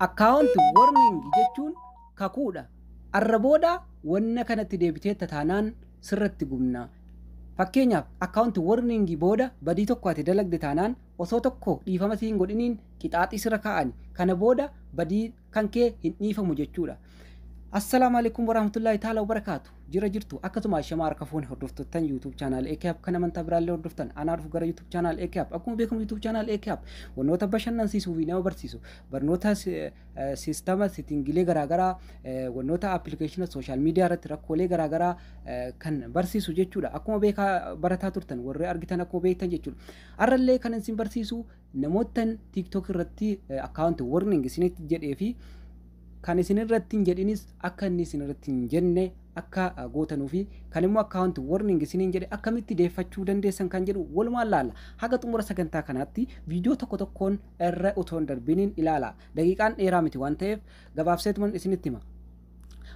Account warning jechuun kakuudha. Arra booda wanna kanatti deebiteetta taanaan sirratti gubna. Fakkeenyaaf account warning booda badii tokko ati dalagde taanaan osoo tokko dhiifama si hin godhiniin qixaaxii sirra kaa'ani. Kana booda badii kankee hin dhiifamu jechuudha. Assalaamu alaikum warahmatullahi ta'ala wabarakaatu. Jira jirtu akkasuma shamaa harka fuune hordoftoottan YouTube channel AKAP kan amantaa biraallee hordoftan anaa dhufu gara YouTube channel AKAP. Akkuma beekamu YouTube channel AKAP wantoota bashannansiisuu fi nama barsiisu barnoota siistama sitingilee garaagaraa wantoota appilikeeshina sooshaal miidiyaa irratti rakkoolee garaagaraa kan barsiisu jechuudha. Akkuma beekaa barataa turtan warri argitan akkuma beektan jechuudha. Har'allee kan isin barsiisu Namoottan TikTok irratti account warning isinitti jedhee fi kan isin irratti hin jedhinis akka inni isin irratti hin jenne akka gootanuu fi kan immoo account warning isiniin jedhe akkamitti deeffachuu dandeessan kan jedhu walumaan laalla. Haga xumura sagantaa kanaatti viidiyoo tokko tokkoon irra otoo hin darbiniin ilaala. Daqiiqaan dheeraa miti waan ta'eef gabaabseetuman isinitti hima.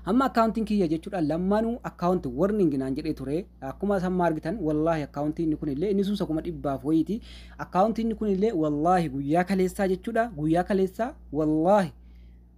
Amma akkaawuntiin kiyya jechuudha lammanu akkaawunti warning naan jedhee ture akkuma samma argitan wallaahi akkaawuntii inni kunillee inni sunsa kuma dhibbaaf wayiiti akkaawuntii inni kunillee wallaahi guyyaa kaleessaa jechuudha guyyaa kaleessaa wallaahi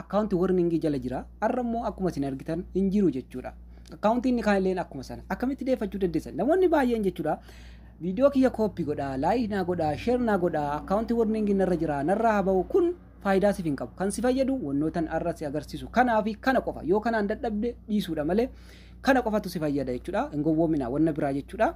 akkaawunti warningii jala jira har'a immoo akkuma isin argitan hin jiru jechuudha akkaawuntii inni kaanillee akkuma sana akkamitti deeffachuu dandeessan namoonni baay'een jechuudha viidiyoo kiyya kooppi godhaa laayik naa godhaa sheer naa godhaa akkaawunti warningii narra jira narraa haa ba'u kun faayidaa sif hin qabu. Kan si fayyadu wannootan arra si agarsiisu kanaa fi kana qofa. Yoo kanaan dadhabde dhiisuudha malee kana qofatu si fayyada jechuudha. Hin gowwoomina wanna biraa jechuudha.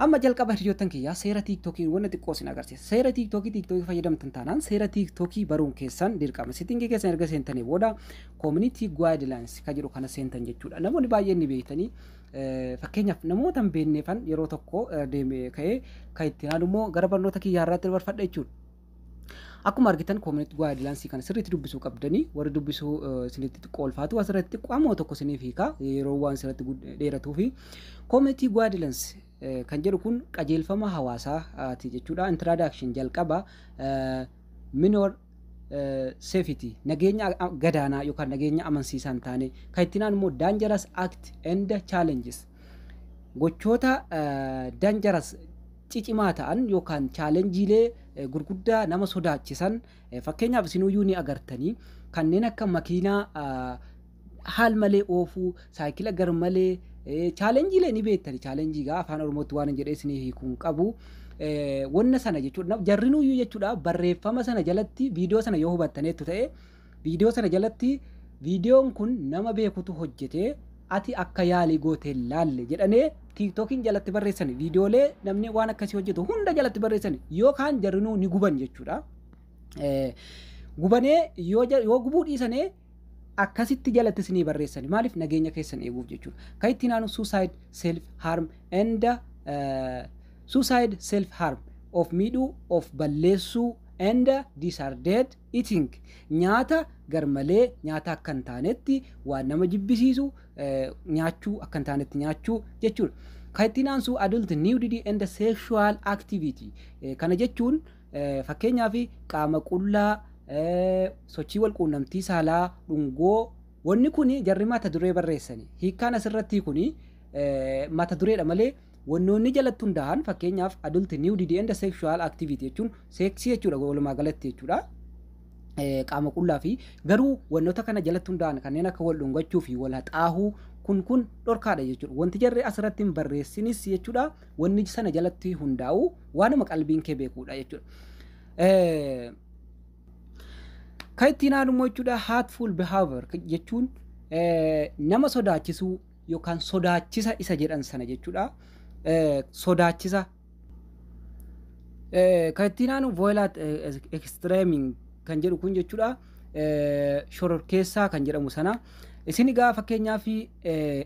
Amma jalqaba hiriyoottan kiyyaa seera tiiktokiin wanna xiqqoo sin agarsiisa. Seera tiiktokii tiiktokii fayyadamtan taanaan seera tiiktokii baruun keessan dirqama. Sitingii keessan erga seentanii booda community guidelines ka jedhu kana seentan jechuudha. Namoonni baay'een ni beektanii eh, fakkeenyaaf namoota hin beekneefan yeroo tokko eh, deeme ka'ee kan itti aanu immoo gara barnoota kiyyaa irraatti dabarfadha jechuudha. Akkuma argitan community guidelines kana sirriitti dubbisuu qabdanii warri dubbisuu isinitti xiqqoo ulfaatu asirratti xiqqoo ammoo tokko isiniif hiika yeroo waan asirratti dheeratuu fi community guidelines kan jedhu kun qajeelfama hawaasaati jechuudha introduction jalqaba minor safety nageenya gadaanaa yookaan nageenya amansiisaa hin taane kan itti naan immoo dangerous act and challenges gochoota dangerous cicimaa ta'an yookaan chaalenjiilee gurguddaa nama sodaachisan fakkeenyaaf isinuyyuu ni agartanii kanneen akka makiinaa haal malee oofuu saayikila gar malee chaalenjiilee ni beektani chaalenjii gaa afaan oromootti waan hin jedhee isinii hiikuun qabu wanna sana jechuudha jarrinuyyuu jechuudha barreeffama sana jalatti viidiyoo sana yoo hubattaneettu ta'e Viidiyoo sana jalatti viidiyoon kun nama beekutu hojjete ati akka yaalii goote hin laalle jedhanee tiiktookiin jalatti barreessani viidiyoolee namni waan akkasii hojjetu hunda jalatti barreessani yoo kaan jarrinuu ni guban jechuudha. Gubanee yoo gubuu dhiisanee akkasitti jalatti isinii barreessani maaliif nageenya keessan eeguuf jechuudha. Kan ittiin aanu suicide self harm and suicide self harm of miidhuu of balleessuu and disarded Eating, nyaata garmalee nyaata akka hin taanetti, waan nama jibbisiisu nyaachuu akka hin taanetti nyaachuu jechuudha. Kan ittiin aansu adult nudity and sexual activity. Kana jechuun fakkeenyaaf qaama qullaa, sochii wal quunnamtii saalaa, dhungoo wanni kun jarri mata duree barreessani. Hiikkaan asirrattii kun mata dureedha malee Wannoonni jalatti hundaahan fakkeenyaaf adult nudity and sexual activity jechuun seeksii jechuudha walumaa galatti jechuudha. qaama qullaa fi garuu wantoota kana jalatti hundaa'an kanneen akka wal dhungachuu fi wal haxaahuu kun kun dhorkaadha jechuudha. Wanti jarri asirratti hin barreessinis jechuudha wanni sana jalatti hundaa'u waanuma qalbiin kee beekuudha jechuudha. Kan ittiin haadhumoo jechuudha hatful behavior jechuun nama sodaachisuu yookaan sodaachisa isa jedhan sana jechuudha. Sodaachisa kan ittiin aanu voilat extreming kan jedhu kun jechuudha. Shororkeessaa kan jedhamu sana. Isin egaa fakkeenyaaf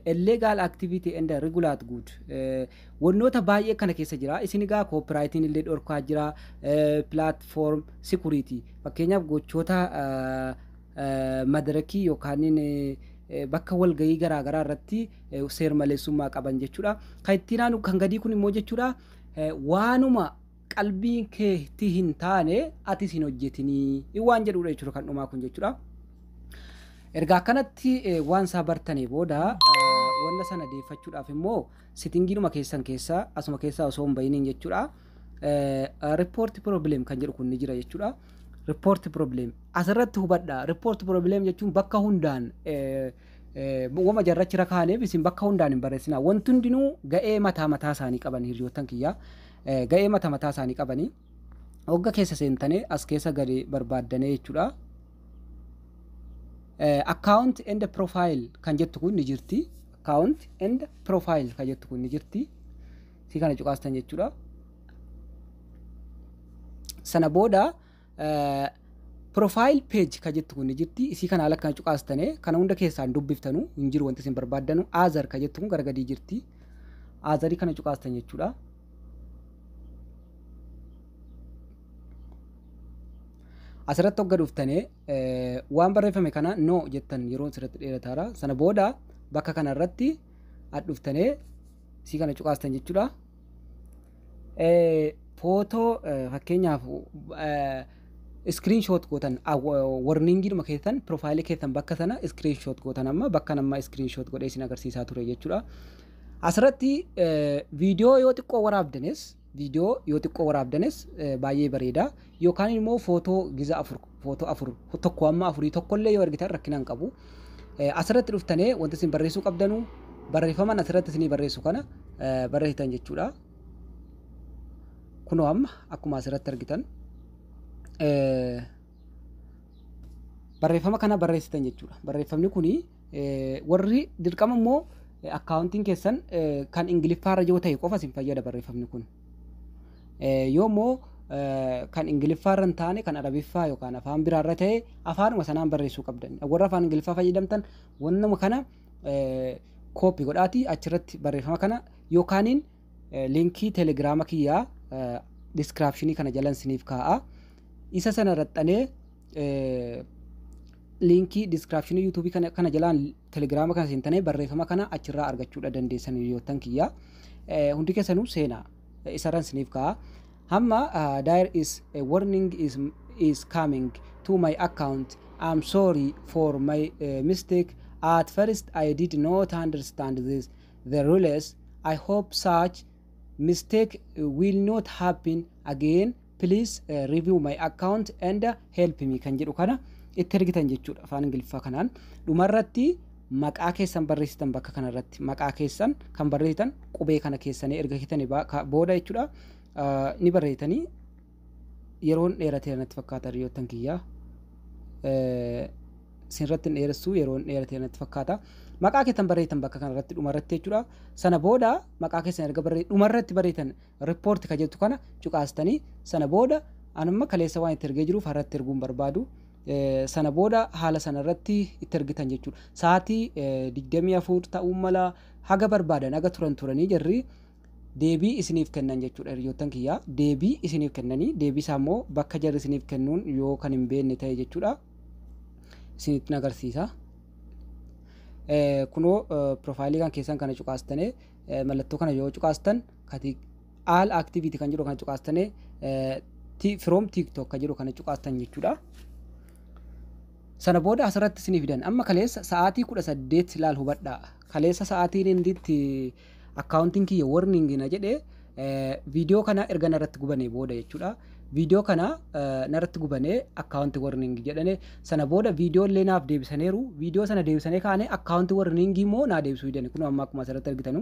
illegal activity and regulate good wantoota baay'ee kana keessa jira. Isin egaa koopiraayitiin illee dhorkaa jira. Platform security fakkeenyaaf gochoota madarakii yookaaniin bakka walgahii garaa garaa irratti seermaleessummaa qaban jechuudha. Kan ittiin aanu kan gadii kun immoo jechuudha waanuma qalbiin keetti hin taane atis hin hojjetinii waan jedhudha jechuudha kan dhumaa kun jechuudha. Erga akkanatti waan isaa bartanii booda wanna sana deeffachuudhaaf immoo sitingiidhuma keessan keessa asuma keessaa osoo hin bahiniin jechuudha. report problem kan jedhu kun ni jira jechuudha. Report problem asirratti hubadha. Report problem jechuun bakka hundaan wama jarrachi rakaaneef isin bakka hundaan hin barreessina. Wanti hundinuu ga'ee mataa mataa isaanii qaban hiriyoottan kiyyaa. Ga'ee mataa mataa isaanii qabanii hogga keessa seentanii as keessa gadi barbaaddanee jechuudha. Account and profile kan jettu kun ni jirti. Account and profile kan jettu kun ni jirti. fi kana cuqaastan jechuudha. Sana booda profile page ka jettu kun ni jirti isii kana ala kana cuqaastane kana hunda keessaan dubbiftanu hin jiru wanti isin barbaaddanu azar ka jettu kun gara gadii jirti azarii kana cuqaastan jechuudha. Asirratti hogga dhuftane waan barreeffame kana no jettan yeroo asirratti dheerataara sana booda bakka kanarratti dhuftane si kana cuqaastan jechuudha. Footoo fakkeenyaaf iskiriin shoot gootan warningiidhuma keessan piroofaayilii keessan bakka sana iskiriin shoot gootan amma bakka nama iskiriin shoot godhee isin agarsiisaa ture jechuudha. Asirratti viidiyoo yoo xiqqoo waraabdanis Viidiyoo yoo xiqqoo waraabdanis baay'ee bareeda. Yookaan immoo footoo giza afur, footoo afur, tokko amma afurii tokkollee yoo ergitan rakkina hin qabu. Asirratti dhuftanee wanti isin barreessuu qabdanu barreeffaman asirratti isinii barreessu kana barreessitan jechuudha. Kunoo amma akkuma asirratti argitan barreeffama kana barreessitan jechuudha. Barreeffamni kuni Warri dirqama immoo akkaawuntiin keessan kan ingiliffaarra yoo ta'e qofa isin fayyada barreeffamni kun. Yoo immoo kan ingiliffaarra hin taane kan arabiffaa yookaan afaan biraarra ta'e afaanuma sanaan barreessuu qabdan. Warra afaan ingiliffaa fayyadamtan wannuma kana kooppi godhaatii achirratti barreeffama kana yookaaniin liinkii telegiraama kiyyaa diskiraapshinii kana jalan siniif kaa'a. Isa sana raxxanee liinkii diskiraapshinii yuutuubii kana, kana jalaan telegiraama kana seentanii barreeffama kana achirraa argachuudha dandeessan hiriyoottan kiyya. Eh, hundi keessanuu seena eh, isarran siniif ka'a. Hamma uh, there is a warning is, is coming to my account. I'm sorry for my uh, mistake. At first I did not understand this the rules. I hope such mistake will not happen again. please review my account and help me kan jedhu kana itti ergitan jechuudha afaan ingiliffaa kanaan dhumarratti maqaa keessan barreessitan bakka kanarratti maqaa keessan kan barreessitan qubee kana keessanii erga kitani booda jechuudha ni barreessitanii yeroon dheeratee natti fakkaata riyoottan kiyyaa sinratti dheeressuu yeroon dheeratee natti fakkaata maqaa keessan barreessitan bakka kanarratti dhumarratti jechuudha sana booda maqaa keessan erga barreessitan dhumarratti barreessitan Report ka jettu kana cuqaastanii sana booda an amma kaleessa waan itti ergee jiruuf harratti erguun barbaadu sana booda haala sana irratti itti ergitan jechuudha. Sa'aatii 24 ta'uu mala haga barbaadan haga turan turanii jarri deebii isiniif kennan jechuudha hiriyoottan kiyyaa deebii isiniif kennanii deebii isaa immoo bakka jarri isiniif kennuun yoo kan hin beekne ta'e jechuudha. Isinitti agarsiisa. Kunoo piroofaayilii kan keessan kana cuqaastanii mallattoo kana yoo cuqaastan kati all activity kan jedhu kana cuqaastane from tiktok kan jedhu kana cuqaastan jechuudha. Sana booda asirratti isinii fidan amma kaleessa sa'aatii kudha saddeet laal hubadha kaleessa sa'aatiin inditti akkaawuntiin kiyya warning na jedhe viidiyoo kana erga narratti gubanee booda jechuudha. Viidiyoo kana narratti gubanee akkaawuntii warning jedhane sana booda viidiyoo illee naaf deebisaniiru viidiyoo sana deebisanii kaanee akkaawuntii warning immoo naa deebisuu didani kun amma akkuma asirratti argitanu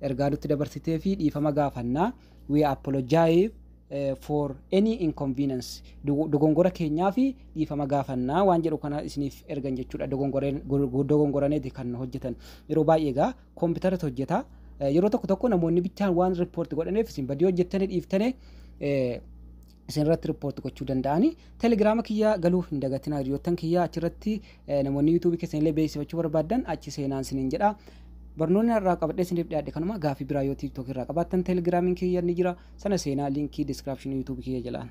ergaa nutti dabarsiteefi dhiifama gaafanna. We apologize for any inconvenience. Dogongora keenyaafi dhiifama gaafanna waan jedhu kana isiniif ergan jechuudha. Dogongoraneeti kan hojjetan. Yeroo baay'ee egaa kompiitaratu hojjeta. Yeroo tokko tokko namoonni bichaan waan riippoorti godhaneef isin badii hojjettanii dhiiftanii isinirratti report gochuu danda'ani. Telegiraama kiyya galuu hin dagatinaa hiriyoottan kiyya achirratti eh, namoonni yuutuubii keessan illee beeksifachuu barbaaddan achi seenaan isiniin jedha. Barnoonni har'aa qabadhee isiniif dhiyaadhe kanuma gaafii biraa yoo tiiktookii irraa qabaattan telegiraamiin kiyya ni jira sana seenaa liinkii diskiraapshinii yuutuubii kiyya jalaan.